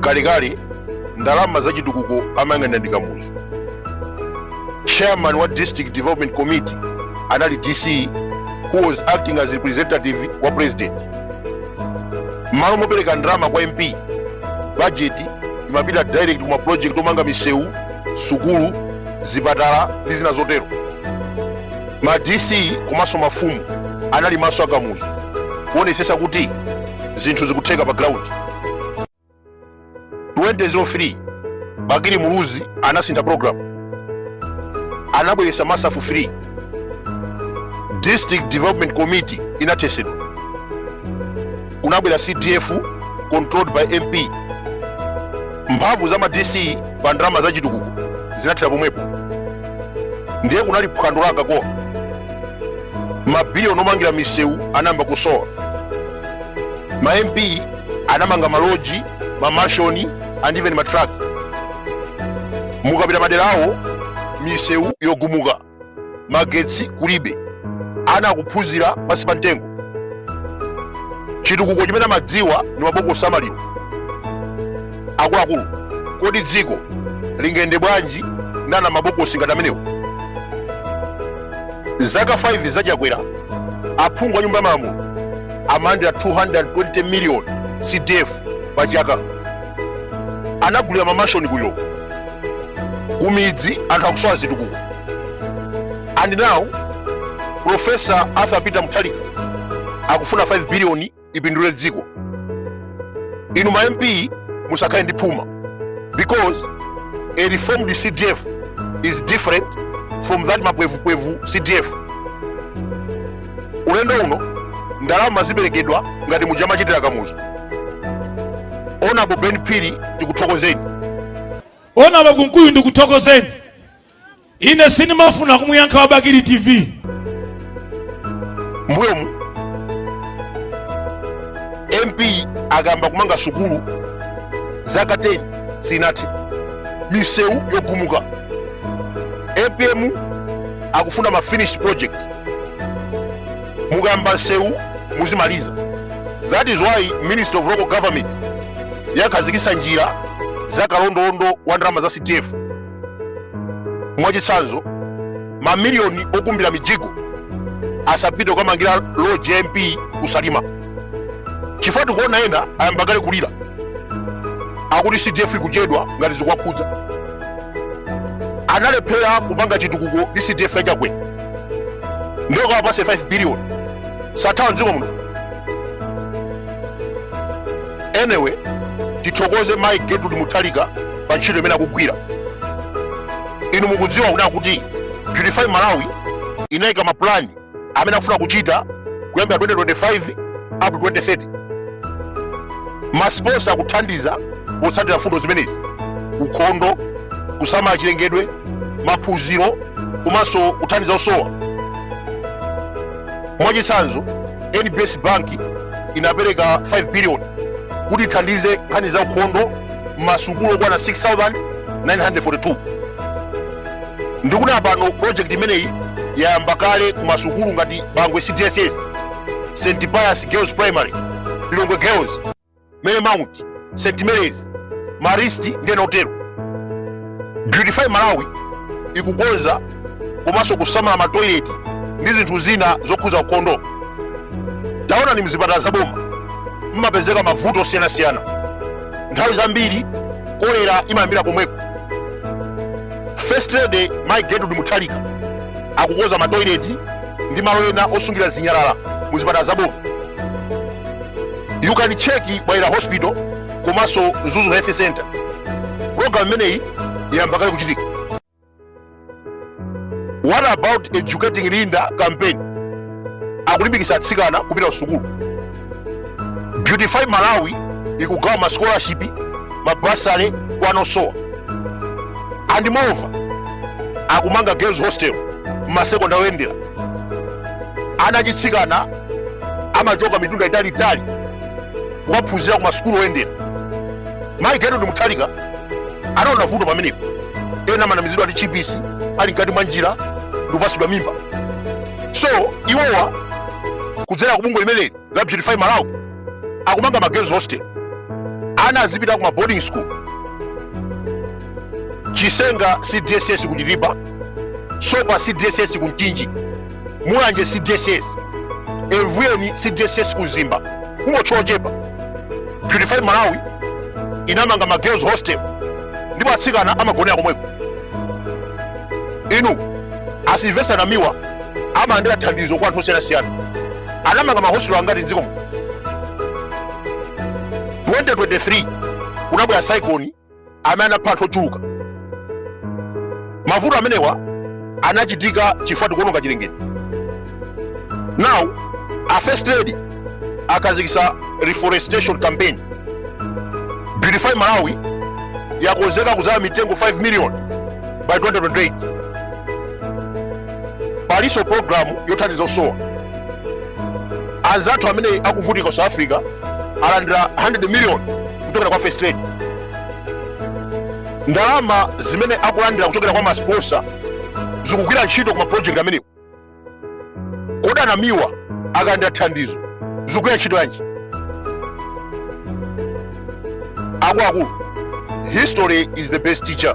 kalekale ndalama za chitukuko amayang'anira ndi kamuzu chairman wa district development committee anali dc who was acting as representative wa president mmalo mopereka ndalama kwa mp budget imapita direct kuma project omanga misewu sukulu zipatala ndi zina zotero ma dc komanso mafumu anali maso a kamuzu kuonetsetsa kuti zinthu zikutheka pa ground 2003 bakili muluzi anasintha program anabweretsa masaf 3 district development committee inathesedwa kunabwera cdf controlled by mp mphamvu za ma dc pa ndalama za chitukuko zinathera pomwepo ndiye kunali phwando la akakowa mabiliyoni omangira misewu anayamba kusowa ma mp anamanga maloji mamashoni and even matraki mukapita madera awo misewu yogumuka magetsi kulibe ana akuphunzira pansi pa mtengo chitukuko chimene amadziwa ndi mabokosi a maliro akuluakulu kodi dziko lingayende bwanji ndi anamabokosi ngati amenewo zaka 5 za chakwera aphungu a nyumba ya malamulo amalandira 220 million cdf pa chaka anagulira mamashoni ku lilongwe kumidzi anthu akusowa zitukuko and now profesa arthur peter mutharika akufuna 5 biliyoni ipindule dziko inu ma mp musakhale ndi phuma because a reformed cdf is different from that mapwevupwevu cdf ulendo uno ndalama ziperekedwa ngati muja amachitira kamuzu honourable ben phiri tikuthokozeni honourable kunkuyu ndikuthokozeni ine sinimafuna kumuyankha wa bakili tv mbuyomu mp akayamba kumanga sukulu zaka 10 sinathe misewu yogumuka apm akufuna ma finished project mukayamba nsewu muzimaliza that is why ministry of local government yakhazikisa njira za kalondolondo wa ndalama za cdf mwachitsanzo mamiliyoni okumbira mijigo asapite kukamangira loji ya mp kusalima chifukwa tikuona ena ayamba kale kulira akuti cdf ikuchedwa ngati zikwakhudza analephera kupanga chitukuko ndi cdf ya Chakwera ndiye kawapatse 5 billion sathawa mdziko muno anyway tithokoze mai gertrude mutharika pa ntchito imene akugwira inu mukudziwa kunena kuti beautify malawi inayika mapulani amene akufuna kuchita kuyambira 2025 up to 2030 masiponsa akuthandiza potsatira mfundo zimenezi ukhondo kusamala chilengedwe maphunziro komanso kuthandiza osowa mwachitsanzo nbs bank inapereka 5 billion kuti ithandize nkhani za ukhondo mmasukulu okwana 6942 ndikunena pano project imeneyi yayamba kale ku masukulu ngati bangwe cdss st pius girls primary lilongwe girls marymount st marys marist ndi ena otero beautify malawi ikukonza komanso kusamala matoileti ndi zinthu zina zokhudza ukhondo taonani mzipatala za boma mmapezeka mavuto osiyanasiyana nthawi zambiri kolera imayambira komweko first lady mai gertrude mutharika akukonza matoileti ndi malo ena osungira zinyalala mu zipatala za boma you can check bwaila hospital komanso mzuzu health center program imeneyi yayamba kale kuchitika what about educating linda campaign akulimbikitsa atsikana kupita kusukulu beautify malawi ikugawa ma scholarship mabasale kwa ana osowa and moreover akumanga girls hostel mmasekondale oyendera ana achitsikana amachoka mitunda italiitali kukaphunzira ku masukulu oyendera mayi gertrude mutharika anaona vuto pamenepo ena amanamizidwa ndi chipisi ali mkati mwa njira ndikupatsidwa mimba so iwowa kudzera ku bungwe limeneli la beautify malawi akumanga ma girls hostel ana azipita ku ma boarding school chisenga cdss ku chitipa sopa cdss ku mchinji mulanje cdss evuyeni cdss ku mzimba kungotchula zochepa beautify malawi inamanga ma girls hostel ndipo atsikana amagonera komweko inu asilvesta namiwa amalandira thandizo kwa anthu osiyanasiyana anamanga mahositelo angati mdziko muno 2023 kunabwera cyclone amene anapha anthu ochuluka. Mavuto amenewa anachitika chifukwa tikuononga chilengedwe. Now a first lady akhazikitsa reforestation campaign Beautify Malawi yakonzeka kudzala mitengo 5 million by 2028. Palinso program yothandiza osowa. Anzathu amene akuvutika ku South Africa alandira 100 million kuchokera kwa first lady ndalama zimene akulandira kuchokera kwa masponsa zikugwira ntchito ku maprojekti amenewo kodi a NAMIWA akalandira thandizo zikugwira ntchito yanji akuluakulu history is the best teacher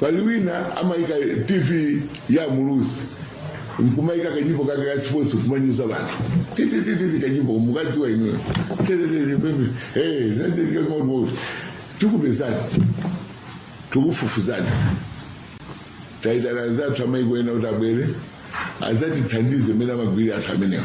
pali wina amayika tv ya muluzi nkumayika kanyimbo kake ka sports kumanyuza banthu titititi kanyimbo mukadziwa inuyo tikupezani tikufufuzani taitana anzathu amayiko ena kuti abwere adzatithandize mmene amagwirira anthu amenewa